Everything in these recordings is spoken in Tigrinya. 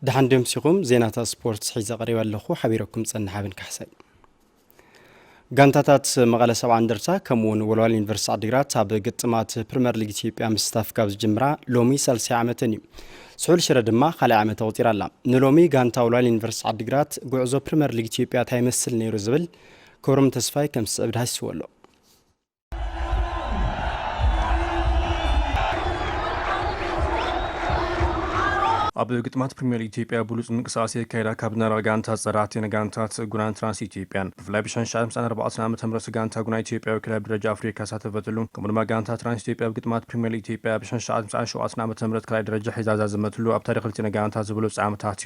ድሓን ደምሲኹም ዜናታት ስፖርት ሒዘ ቀሪበ ኣለኹ ሓቢረኩም ፀንሕ ኣብን ካሕሳይ ጋንታታት መቐለ ሰብዓ እንደርታ ከምኡ እውን ወልዋል ዩኒቨርስቲ ዓዲግራት ኣብ ግጥማት ፕሪምየር ሊግ ኢትዮጵያ ምስታፍ ካብ ዝጅምራ ሎሚ ሳልሳይ ዓመተን እዩ ስሑል ሽረ ድማ ካልኣይ ዓመት ኣቑፂራ ኣላ ንሎሚ ጋንታ ወልዋል ዩኒቨርስቲ ዓዲግራት ጉዕዞ ፕሪምየር ሊግ ኢትዮጵያ እንታይ ይመስል ነይሩ ዝብል ክብሮም ተስፋይ ከም ዝስዕብ ዳሃሲዎ ኣሎ ኣብ ግጥማት ፕሪሚየር ሊግ ኢትዮጵያ ብሉፅ ምንቅስቓስ የካይዳ ካብ ዝነበራ ጋንታ ፀራህት ዜና ጋንታት ጉናን ትራንስ ኢትዮጵያን ብፍላይ ብሻን ሻዕ ምሳን ኣርባዕተን ዓመተ ምህረት ጋንታ ጉና ኢትዮጵያ ወኪላ ኣብ ደረጃ ኣፍሪካ ሳተፈትሉ ከምኡ ድማ ጋንታ ትራንስ ኢትዮጵያ ኣብ ግጥማት ፕሪሚየር ሊግ ኢትዮጵያ ብሻን ሻዕ ምሳን ሸውዓተን ዓመተ ምህረት ካልኣይ ደረጃ ሒዛ ዛዘመትሉ ኣብ ታሪክ ክልቲኤን ጋንታት ዝበለፁ ዓመታት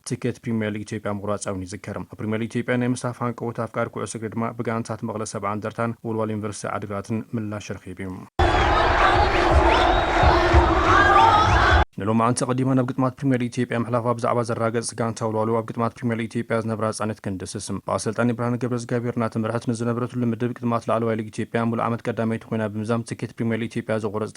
ትኬት ፕሪሚየር ሊግ ኢትዮጵያ ምቑራፃ'ውን ይዝከር። ኣብ ፕሪሚየር ሊግ ኢትዮጵያ ናይ ምስታፍ ሃንቀውታ ኣፍቃሪ ኩዕሶ እግሪ ድማ ብጋንታት መቐለ ሰብዓ እንደርታን ወልዋሎ ዩኒቨርሲቲ ዓድግራትን ምላሽ ረኺቡ እዩ። ንሎማዓንቲ ኣቐዲማ ናብ ግጥማት ፕሪሚየር ሊግ ኢትዮጵያ ምሕላፋ ብዛዕባ ዘረጋገፀት ጋንታ ወልዋሎ ኣብ ግጥማት ፕሪሚየር ሊግ ኢትዮጵያ ዝነብራ ፃንሒት ክንድስስ ብኣሰልጣኒ ብርሃነ ገብረዝጋቢሄር እናተመርሐት ንዝነበረትሉ ምድብ ግጥማት ላዕለዋይ ሊግ ኢትዮጵያ ሙሉእ ዓመት ቀዳመይቲ ኮይና ብምዛም ትኬት ፕሪሚየር ሊግ ኢትዮጵያ ዘቑረፀት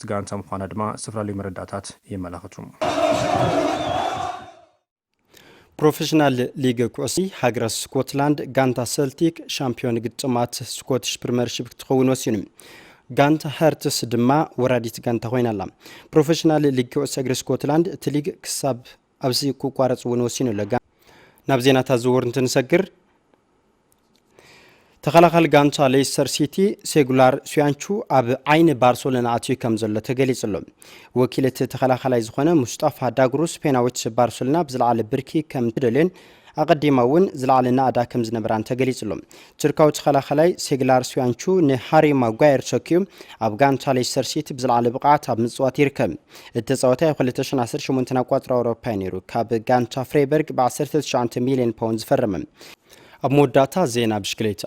ኣባላት ጋንታ ምዃና ድማ ዝተፈላለዩ መረዳእታት የመላኽቱ። ፕሮፌሽናል ሊግ ኩዕሲ ሃገራት ስኮትላንድ ጋንታ ሰልቲክ ሻምፒዮን ግጥማት ስኮትሽ ፕሪመርሺፕ ክትኸውን ወሲኑ። ጋንታ ሀርትስ ድማ ወራዲት ጋንታ ኮይና ኣላ ፕሮፌሽናል ሊግ ኩዕሶ እግሪ ስኮትላንድ እቲ ሊግ ክሳብ ኣብዚ ክቋረፅ እውን ወሲኑ ኣሎ ናብ ዜናታት ዝውር እንትንሰግር ተኸላኻሊ ጋንታ ሌስተር ሲቲ ሴጉላር ሱያንቹ ኣብ ዓይኒ ባርሰሎና ኣትዩ ከም ዘሎ ተገሊጹ ኣሎ ወኪል እቲ ተኸላኻላይ ዝኾነ ሙስጣፋ ዳግሩ ስፔናዊት ባርሰሎና ብዝለዓለ ብርኪ ከም ትደልዮን ኣቐዲማ እውን ዝለዓለ ናእዳ ከም ዝነበራን ተገሊጹ ኣሎ ቱርካዊ ተኸላኻላይ ሴግላር ሱያንቹ ንሃሪ ማጓየር ተኪዩ ኣብ ጋንታ ሌስተር ሲቲ ብዝለዓለ ብቕዓት ኣብ ምፅዋት ይርከብ እቲ ተፃወታይ ኣብ 2018 ኣቋፅራ ኣውሮፓ ነይሩ ካብ ጋንታ ፍሬበርግ ብ19 ሚልዮን ፓውንድ ዝፈረመ ኣብ መወዳእታ ዜና ብሽክሌታ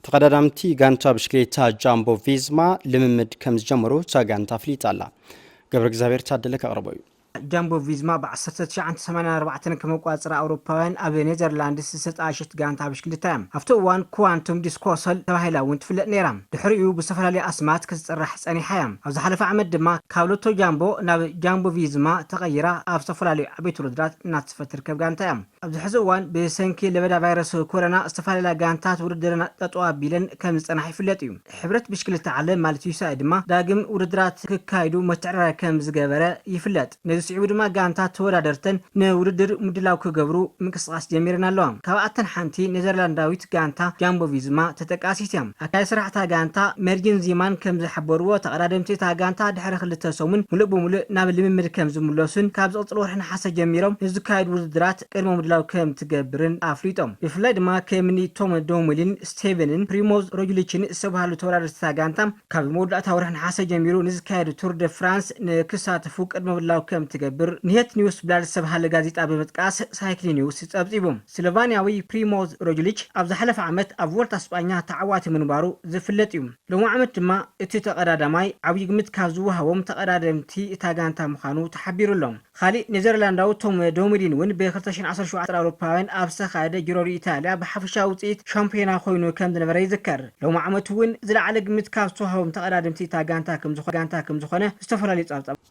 ተቐዳዳምቲ ጋንታ ብሽክሌታ ጃምቦ ቪዝማ ልምምድ ከም ዝጀመሩ እታ ጋንታ ኣፍሊጣ ኣላ። ገብረ እግዚኣብሔር ታደለ ከቕርቦ እዩ። ጃምቦ ቪዝማ ብ ዓሰርተ ትሽዓተ ሰማንያን ኣርባዕተን ከም ኣቆፃፅራ ኣውሮፓውያን ኣብ ኔዘርላንድስ ዝተጣየሸት ጋንታ ብሽክሌታ እያ። ኣብቲ እዋን ኩዋንቱም ዲስኮሰል ተባሂላ እውን ትፍለጥ ነይራ። ድሕሪኡ ብዝተፈላለዩ ኣስማት ክትፅራሕ ፀኒሓ እያ። ኣብ ዝሓለፈ ዓመት ድማ ካብ ሎቶ ጃምቦ ናብ ጃምቦ ቪዝማ ተቐይራ ኣብ ዝተፈላለዩ ዓበይቲ ውድድራት እናተሳተፈት ትርከብ ጋንታ እያ። ኣብዚ ሕዚ እዋን ብሰንኪ ለበዳ ቫይረስ ኮረና ዝተፈላለያ ጋንታት ውድድረን ጠጠው ኣቢለን ከምዝፀንሓ ይፍለጥ እዩ። ሕብረት ብሽክሌታ ዓለም ማለት ዩሲኣይ ድማ ዳግም ውድድራት ክካይዱ ምትዕርራይ ከምዝገበረ ይፍለጥ። ነዚ ስዒቡ ድማ ጋንታት ተወዳደርተን ንውድድር ምድላው ክገብሩ ምንቅስቓስ ጀሚረን ኣለዋ። ካብኣተን ሓንቲ ኔዘርላንዳዊት ጋንታ ጃምቦ-ቪዝማ ተጠቃሲት እያ። ኣካያዲ ስራሕ እታ ጋንታ ሜርጂን ዚማን ከም ዝሓበርዎ፣ ተቐዳደምቲ እታ ጋንታ ድሕሪ ክልተ ሰሙን ምሉእ ብምሉእ ናብ ልምምድ ከም ዝምለሱን ካብ ዝቕጽል ወርሒ ነሓሰ ጀሚሮም ንዝካየዱ ውድድራት ቅድመ ምድላው ከም ትገብርን ኣፍሊጦም። ብፍላይ ድማ ከምኒ ቶም ዶውምሊን፣ ስቴቨንን ፕሪሞዝ ሮጅሊችን ዝተብሃሉ ተወዳደርቲ እታ ጋንታ ካብ መወዳእታ ወርሒ ነሓሰ ጀሚሩ ንዝካየድ ቱር ደ ፍራንስ ንክሳተፉ ቅድመ ምድላው ከም ትገብር ንሄት ኒውስብላድ ዝተብሃለ ጋዜጣ ብምጥቃስ ሳይክሊኒውስ ጸብጺቡ። ስሎቫንያዊ ፕሪሞዝ ሮጅሊች ኣብ ዝሓለፈ ዓመት ኣብ ቮልታ ስጳኛ ተዓዋቲ ምንባሩ ዝፍለጥ እዩ። ሎሚ ዓመት ድማ እቲ ተቐዳዳማይ ዓብዪ ግምት ካብ ዝወሃቦም ተቐዳደምቲ እታ ጋንታ ምዃኑ ተሓቢሩ ኣሎ። ኻሊእ ኔዘርላንዳዊ ቶም ዶምዲን እውን ብ ክልተ ሽሕን ዓሰርተ ሸውዓተ ኣውሮፓውያን ኣብ ዝተኻየደ ጂሮ ዲ ኢታልያ ብሓፈሻዊ ውፅኢት ሻምፕዮና ኮይኑ ከም ዝነበረ ይዝከር። ሎሚ ዓመት እውን ዝለዓለ ግምት ካብ ዝተወሃቦም ተቐዳደምቲ እታ ጋንታ ከም ዝኾነ ዝተፈላለዩ ፀብፃባት